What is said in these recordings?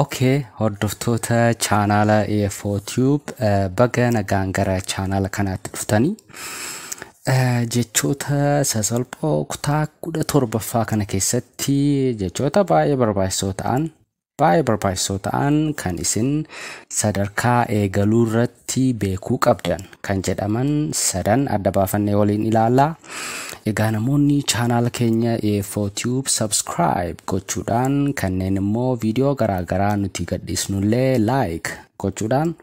ok hordoftoota chaanaala EFO Tube eh, baga nagaan gara chaanaala kanaatti dhuftanii Eh, jechoota sasalphoo kutaa kudha torbaffaa kana keessatti jechoota baay'ee barbaachisoo ta'an baay'ee barbaachisoo ta'an kan isin sadarkaa eegaluu irratti irratti beekuu qabdan kan jedhaman sadan adda baafannee waliin ilaalla. Egaa namoonni chaanaala keenya EFO Tube subscribe gochuudhaan kanneen immoo viidiyoo garaagaraa nuti gadhiisnullee like gochuudhaan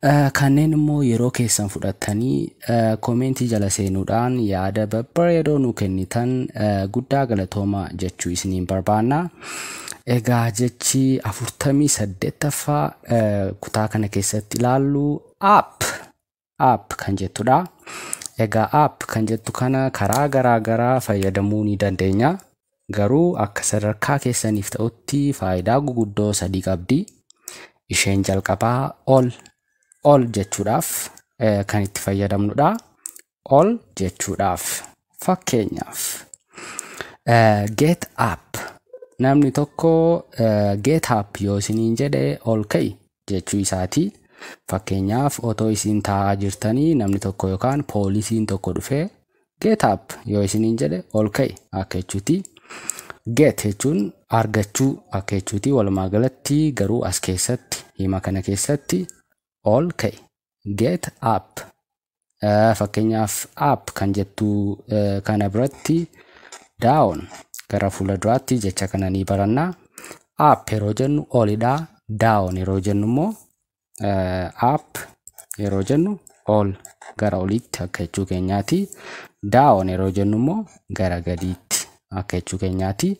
eh, kanneen immoo yeroo keessan fudhattanii eh, koomeentii jala seenuudhaan yaada babbareedoo nu kennitan eh, guddaa galatooma jechuu isiniin barbaanna. Egaa jechi afurtamii saddeettaffaa kutaa kana keessatti ilaallu app app kan jettudha. Egaa app kan jettu kana karaa garaa garaa fayyadamuu ni dandeenya. Garuu akka sadarkaa keessaniif ta'utti faayidaa guguddoo sadii qabdi. Isheen jalqabaa ol ol jechuudhaaf kan itti fayyadamnudha. ol jechuudhaaf. Fakkeenyaaf, eh, get up. Namni tokko eh, get up yoo isiniin jedhe ol ka'i jechuu isaati. Fakkeenyaaf, otoo isin taa'aa jirtanii namni tokko yookaan poolisiin tokko dhufee get up yoo isiniin jedhe ol ka'i akka jechuuti. Get jechuun argachuu akka jechuuti. Walumaa galatti garuu as keessatti hima kana keessatti ol ka'i get app Eh, fakkeenyaaf app kan jettu eh, kana biratti down gara fuula duraatti jecha kana ni baranna app yeroo jennu olidha down yeroo jennu immoo eh, app yeroo jennu ol gara oliitti akka jechuu keenyaati down yeroo jennu immoo gara gadiitti akka jechuu keenyaati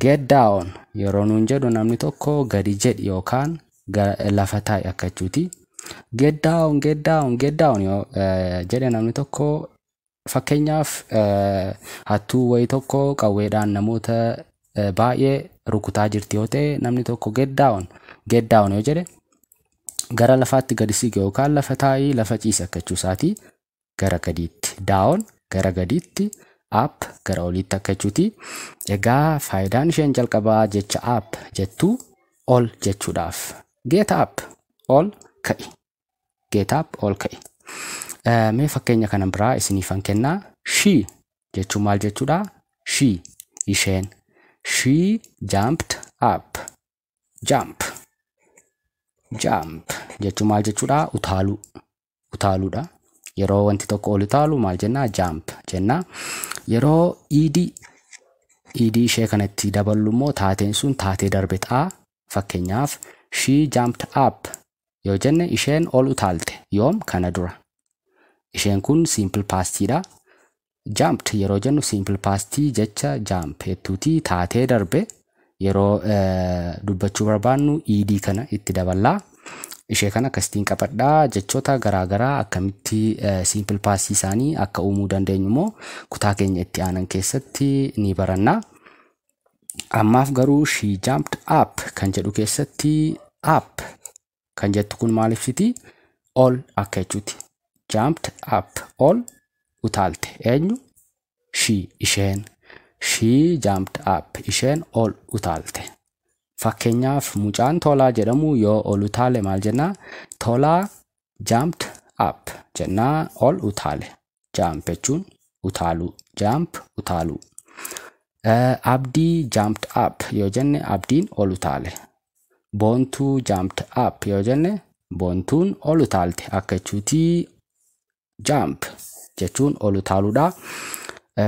get down yeroo nuun jedhu namni tokko gadi jedhi yookaan lafa taa'i akka jechuuti. Get down, get down, get down yoo jedhe namni tokko fakkeenyaaf hattuu wayii tokko qawweedhaan namoota baay'ee rukutaa jirti yoo ta'e namni tokko get down, get down yoo jedhe gara lafaatti gadi siqi yookaan lafa taa'i lafa ciisi akka jechuu isaati. gara gadiitti down gara gadiitti up gara oliitti akka jechuuti. Egaa faayidaan isheen jalqabaa jecha up jettu ol jechuudhaaf. Get up ol ka'i. Get up ol ka'i. Eh, Mee fakkeenya kana biraa isiniifan kennaa. She jechuun maal jechuudha? She isheen. She jumped up. Jump. Jump jechuun maal jechuudha? Utaaluu. utaaluudha. Yeroo wanti tokko ol utaalu maal jennaa? Jaamp jennaa. Yeroo iidii iidii ishee kanatti daballu immoo taateen sun taatee darbe ta'a. Fakkeenyaaf she jumped up yoo jenne isheen ol utaalte yoom kana dura. Isheen kun simple past dha. Jumped yeroo jennu simple past jecha jump jettuuti taatee darbe yeroo dubbachuu barbaannu ed kana itti daballaa. Ishee kana akkasitiin qabadhaa jechoota garaagaraa akkamitti simple past isaanii akka uumuu dandeenyu immoo kutaa keenya itti aanan keessatti ni baranna. Ammaaf garuu she jumped up kan jedhu keessatti up kan jettu kun maal ibsiti ol akka jechuuti jumped up ol utaalte eenyu she isheen she jumped up isheen ol utaalte fakkeenyaaf mucaan tolaa jedhamu yoo ol utaale maal jennaa tolaa jumped up jennaa ol utaale jaamp jechuun utaaluu jaamp utaaluu abdii jaamped app yoo jenne abdiin ol utaale boontuu jaamped app yoo jenne boontuun ol utaalte akka jechuutii jaamp jechuun ol utaaluudha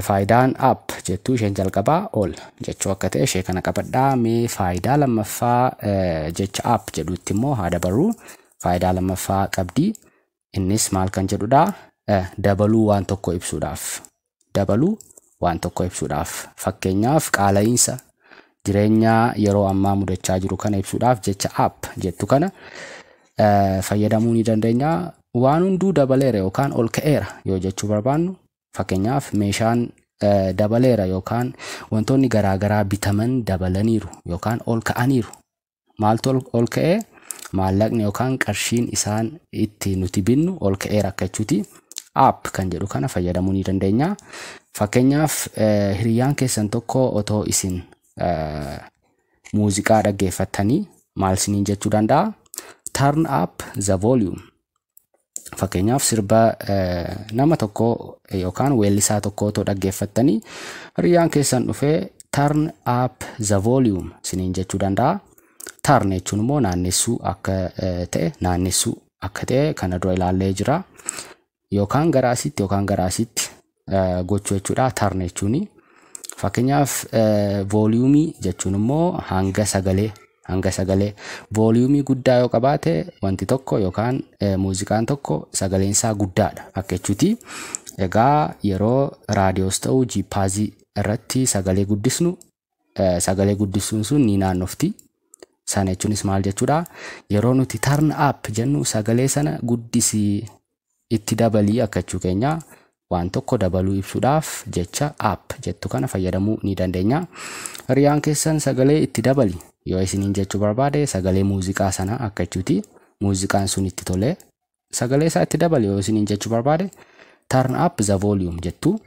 faayidaan app jettuu isheen jalqabaa ol jechuu akka ta'e ishee kana qabadhaa mee faayidaa lammaffaa jecha app jedhuutti immoo haa dabarru faayidaa lammaffaa qabdii Innis maal kan jedhudha? Dabaluu waan tokko ibsuudhaaf. Dabaluu waan tokko ibsuudhaaf. Fakkeenyaaf qaala'iinsa jireenya yeroo ammaa mudachaa jiru kana ibsuudhaaf jecha app jettu kana fayyadamuu ni dandeenya. Waan hunduu dabaleera yookaan ol ka'eera yoo jechuu barbaannu fakkeenyaaf meeshaan dabaleera yookaan wantoonni garaagaraa bitaman dabalaniiru yookaan ol ka'aniiru maaltu ol- ol ka'ee maallaqni yookaan qarshiin isaan itti nuti binnu ol ka'ee rakkachuuti app kan jedhu kana fayyadamuu ni dandeenya fakkeenyaaf eh, hiriyyaan keessan tokko otoo isin eh, muuziqaa dhaggeeffattanii maal isiniin jechuu danda'a turn up the volume Fakkeenyaaf sirba nama tokkoo yookaan weellisaa tokkoo otoo dhaggeeffattanii hiriyaan keessan dhufee turn up the volume siniin jechuu danda'a. Turn jechuun immoo naannessuu akka ta'e naannessuu akka ta'e kana dura ilaallee jira. Yookaan gara asitti yookaan gara asitti gochuu jechuudha tarn jechuun fakkeenyaaf vooliyuumii jechuun immoo hanga sagalee hanga sagalee vooliyuumii guddaa yoo qabaate wanti tokko yookaan muuziqaan tokko sagaleen isaa guddaadha akka jechuuti egaa yeroo raadiyoos ta'u jiippaazii irratti sagalee guddisnu sagalee guddisuun sun ni naannofti. Sana jechuunis maal jechuudha? Yeroo nuti turn up jennu sagalee sana guddisii itti dabalii akka jechuu keenya waan tokko dabaluu ibsuudhaaf jecha up jettu kana fayyadamuu ni dandeenya. Hiriyaan keessan sagalee itti dabali yoo isiniin jechuu barbaade sagalee muuziqaa sana akka jechuuti. Muuziqaan sun itti tolee sagalee isaa itti dabali yoo isiniin jechuu barbaade turn up the volume jettu.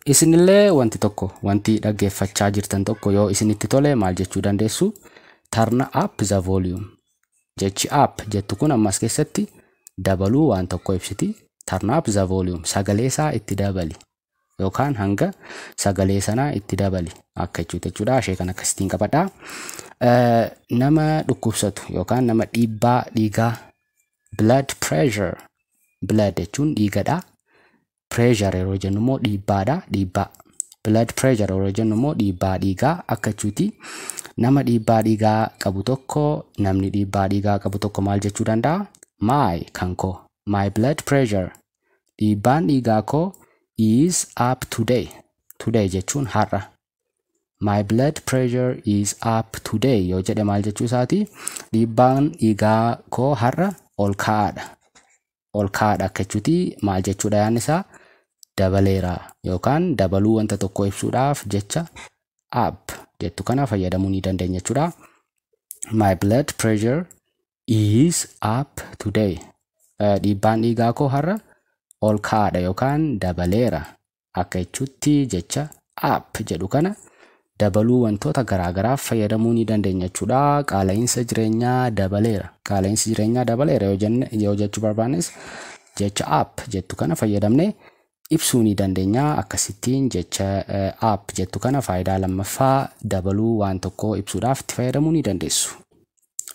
Isinillee wanti tokko wanti dhaggeeffachaa jirtan tokko yoo isinitti tole maal jechuu dandeessu turn up the volume jechi up jettu kun ammas keessatti dabaluu waan tokko ibsiti turn up the volume sagalee isaa itti dabali yookaan hanga sagalee sanaa itti dabali akka jechuuti jechuudha. Ishee kan akkasitiin qabadha. Eh, Nama dhukkubsatu yookaan nama dhiibbaa dhiigaa blood pressure blood jechuun dhiigadha. Pressure yeroo jennu immoo dhiibbaadha. Dhiibbaa blood pressure yeroo jennu immoo dhiibbaa dhiigaa akka jechuuti. Nama dhiibbaa dhiigaa qabu tokko namni dhiibbaa dhiigaa qabu tokko maal jechuu danda'a? My kan koo my blood pressure Dhiibbaan dhiigaa koo is up today. Today jechuun har'a. My blood pressure is up today yoo jedhe maal jechuu isaati? Dhiibbaan dhiigaa koo har'a ol ka'aadha. Ol ka'aadha akka jechuuti maal jechuudha yaadni isaa? Dabaleera yookaan dabaluu wanta tokkoo ibsuudhaaf jecha up jettu kana fayyadamuu ni dandeenya jechuudha. My blood pressure is up today. Eh, Dhiibbaan dhiigaa koo har'a ol ka'aadha yookaan dabaleera akka jechuutti jecha up jedhu kana dabaluu wantoota garaagaraaf fayyadamuu ni dandeenya jechuudha. Qaala'iinsa jireenyaa dabaleera. Qaala'iinsi jireenyaa dabaleera yoo jenne yoo jechuu barbaannes jecha up jettu kana fayyadamnee ibsuu ni dandeenya. Akkasittiin jecha app jettu kana faayidaa lammaffaa dabaluu waan tokkoo ibsuudhaaf itti fayyadamuu ni dandeessu.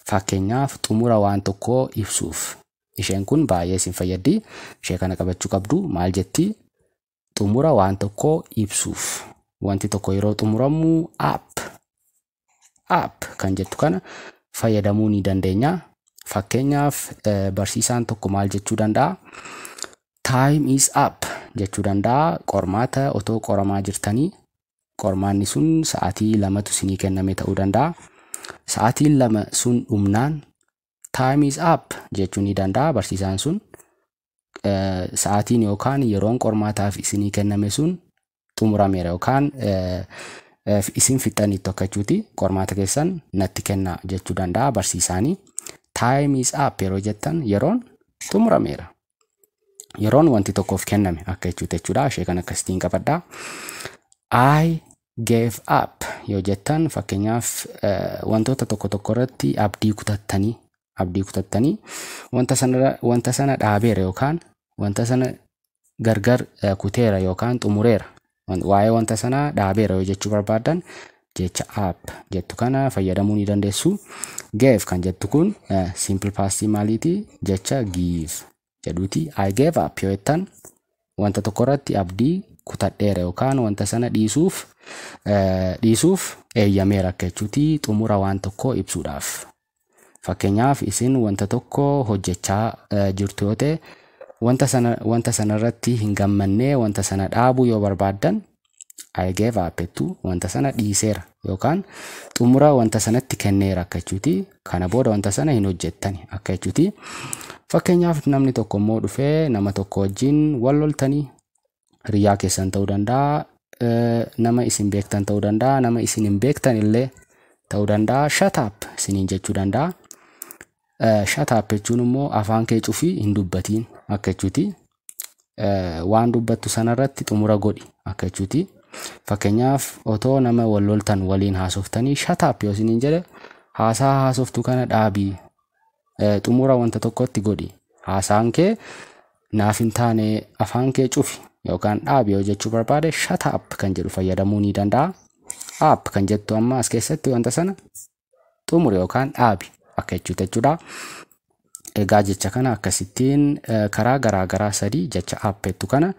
Fakkeenyaaf xumura waan tokkoo ibsuuf. Isheen kun baay'ee isin fayyaddi. Ishee kana qabachuu qabdu. Maal jetti? Xumura waan tokkoo ibsuuf. Wanti tokko yeroo xumuramu app app kan jettu kana fayyadamuu ni dandeenya. Fakkeenyaaf eh, barsiisaan tokko maal jechuu danda'a? Time is up jechuu danda'a. Qormaata otoo qoramaa jirtanii qormaanni sun sa'aatii lamatu isinii kenname ta'uu danda'a. Sa'aatiin lama sun dhumnaan time is up jechuu ni danda'a barsiisaan sun. Eh, Sa'aatiin yookaan yeroon qormaataaf isinii kenname sun xumurameera yookaan isin fixxaniittu akka jechuuti qormaata keessan natti kenna jechuu danda'a barsiisaanii. Time is up yeroo jettan yeroon xumurameera. Yeroon wanti tokkoof kenname akka jechuuti jechuudha. Ishee kan akkasitiin qabadha. I gave up yoo jettan fakkeenyaaf wantoota tokko tokko irratti abdii kutattanii abdii kutattanii wanta sanarra wanta sana dhaabeera yookaan wanta sana gargar eh, kuteera yookaan xumureera Wan- waa'ee wanta sanaa dhaabeera yoo jechuu barbaaddan jecha app jettu kana fayyadamuu ni dandeessu gave kan jettu kun eh, simple past maaliiti jecha give jedhuuti I gave up yoo jettan wanta tokko irratti abdii kutadheera yookaan wanta sana dhiisuuf eh, dhiisuuf eeyyameera akka jechuuti xumura waan tokkoo ibsuudhaaf. Fakkeenyaaf isin wanta tokko hojjechaa eh, jirtu yoo ta'e wanta sana wanta sana irratti hin gammanne wanta sana dhaabuu yoo barbaaddan I gave up jettu wanta sana dhiiseera yookaan xumura wanta sanatti kenneera akka jechuuti. Kana booda wanta sana hin hojjettani akka jechuuti. Fakkeenyaaf namni tokko immoo dhufee nama tokko wajjin wal loltanii hiriyyaa keessan ta'uu danda'a, eh, nama isin beektan ta'uu danda'a, nama isin hin beektan illee ta'uu danda'a. Shut up isiniin jechuu danda'a. Eh, Shut up jechuun immoo afaan kee cufii hin dubbatiin akka jechuuti. eh, waan dubbattu sanarratti xumura godhi akka jechuuti. Fakkeenyaaf otoo nama wal loltan waliin haasoftanii shataap yoo isiniin jedhe haasaa haasoftu kana dhaabii eh, xumura wanta tokkotti godhi. Haasaan kee naaf hin taane afaan kee cufi yookaan dhaabi yoo jechuu barbaade shataap kan jedhu fayyadamuu ni danda'a. App kan jettu amma as keessatti wanta sana xumuri yookaan dhaabi akka jechuuti jechuudha. Egaa jecha kana akkasittiin eh, karaa garaa garaa sadii jecha appettu kana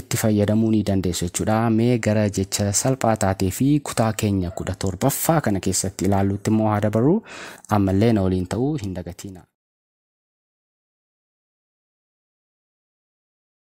itti fayyadamuu ni dandeessu jechuudha. Mee gara jecha salphaa taatee fi kutaa keenya kudha torbaffaa kana keessatti ilaalluutti immoo haa dabarru ammallee na waliin ta'uu hin dagatiina.